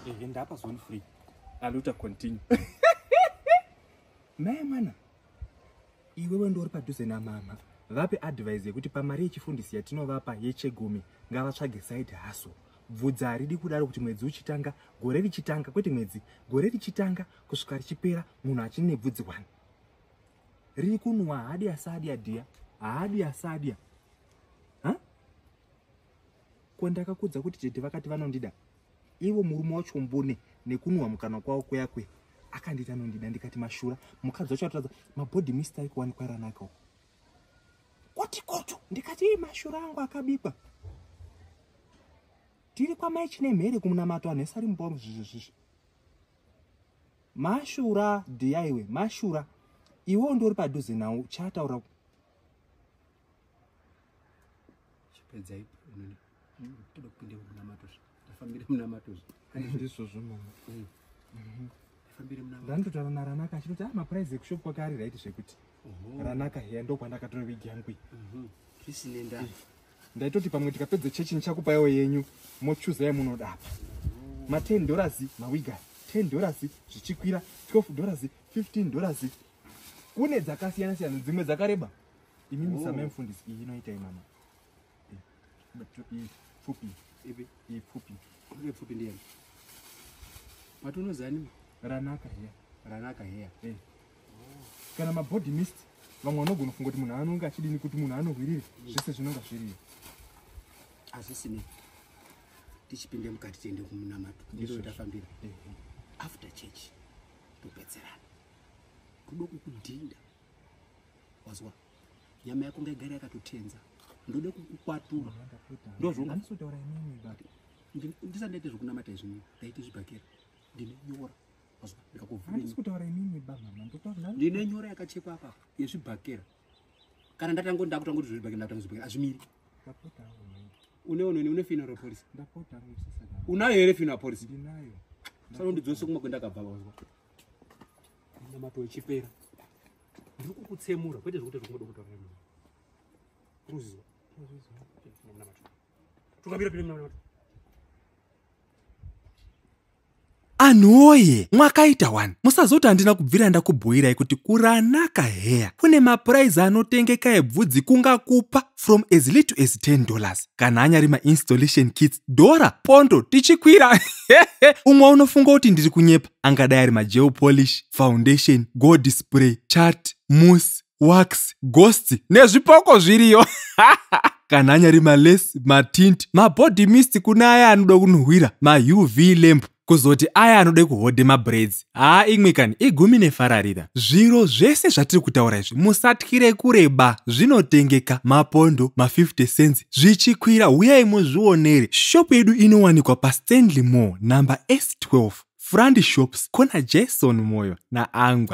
Ehe ndapa zone free. Aluta continue. Naye mwana. Iwewe ndori padhuze na mama. Vape advice yekuti pamari yechifundisi yatinovapa yechegumi ngavatsvage side hustle. Bvudza haridi kudaro kuti mwedzi uchitanga, gore richitanga, kwete mwedzi, gore richitanga kusvika richipera munhu achine bvudzi wani. Riri kunwa haadi asadya dia, haadi asadya. ko ndakakudza kuti tete vakati vanondida ivo murume wacho mbune nekunhuhwa mukanwa kwavo kuya kuya akanditi anondida ndikati mashura mukadzi wacho atoradza mabhodhi mista ari kuwanikwa ranakawo koti koto ndikati ii mashura angu akabikwa tiri kwamai chine mhere kumunamato anhu ese ari mubhomu zvizvizvizvi mashura dhiyaiwe mashura iwewo ndori padhuze nawo chaataura chipedza ipo inini hmm, toda kupinde munamato zve ndafambire munamato zve handizvizvozvo mama hmm. mhm. ndafambire munamato ndandotaura naranaka achitoti ah maprize ekushop kwaka ari right zvekuti ranaka heya ndokwandakatora wigi yangu iyi mhm. zvisine ndaa eh, ndaitoti pamwe tikapedza chechi ndichakupaiwo yenyu mochuza yamunoda apa ma 10 dollars mawiga 10 dollars zvichikwira 12 dollars 15 dollars kune dzakasiyana siyana dzimwe dzakareba Imi oh. musame mfundisi iyi inoita imama. Iyi pfupi. Ipi. Iyi pfupi. Ipi pfupi ndiye. Mati unoziva nimi? Ranaka here. Ranaka here. Eh. Oh. Kana ma body mist vamwe vanogona kufunga kuti munhu anonge achidini kuti munhu anohwirire mm. zvese zvinonga zviriyo. Hazvisi nei. Tichipinde mukati tiende kumunamato. Ndizvo tafambira. Eh, eh. After church topedzerana. Kudo kukudhinda. wazwa nyama yako ngaigare yakatotenza ndode kukukwatura ndozvondisotaura inini but ndisandaite zvekunamata izvi nini ndaite zvibhakera ndine nyora wazwa ndikakuvhurandisokutaura inini bamama ndine nyora yakachekwa apa yezvibhakera kana ndatango ndakutanga kuti zvibhakera ndakutanga zvibhakera azvimiri uneononi une fino repolisi unayo here fino apolisi sanondidzose kumakwenda akabva wazwa namatoechipera ndiri kukutsemura kwete zvekuti zvokungoda kutaura nemi ruziva tukamira pine munamato anhuoye mwakaita wani musazoti handina kubvira ndakubhuirai kuti kuranaka heya kune mapuraizi anotengeka ebvudzi kungakupa from as little as 10 dollars kana anyari mainstallation kits dhora pondo tichikwira umwe unofunga kuti ndiri kunyepa angadai ari mageo polish foundation gold spray chat mus wax ghost nezvipoko zviriyo kana anyari malesi matint mabody mist kune aya anoda kunhuhwira mauv lamp kuzoti aya anoda kuhodhe mabraids haa imwe kani igumi nefararira zviro zvese zvatiri kutaura izvi musatyire kureba zvinotengeka mapondo ma50 cents zvichikwira huyai muzvionere shop yedu inowanikwa pastanley mall number s12 frand shops corner jason moyo naangwa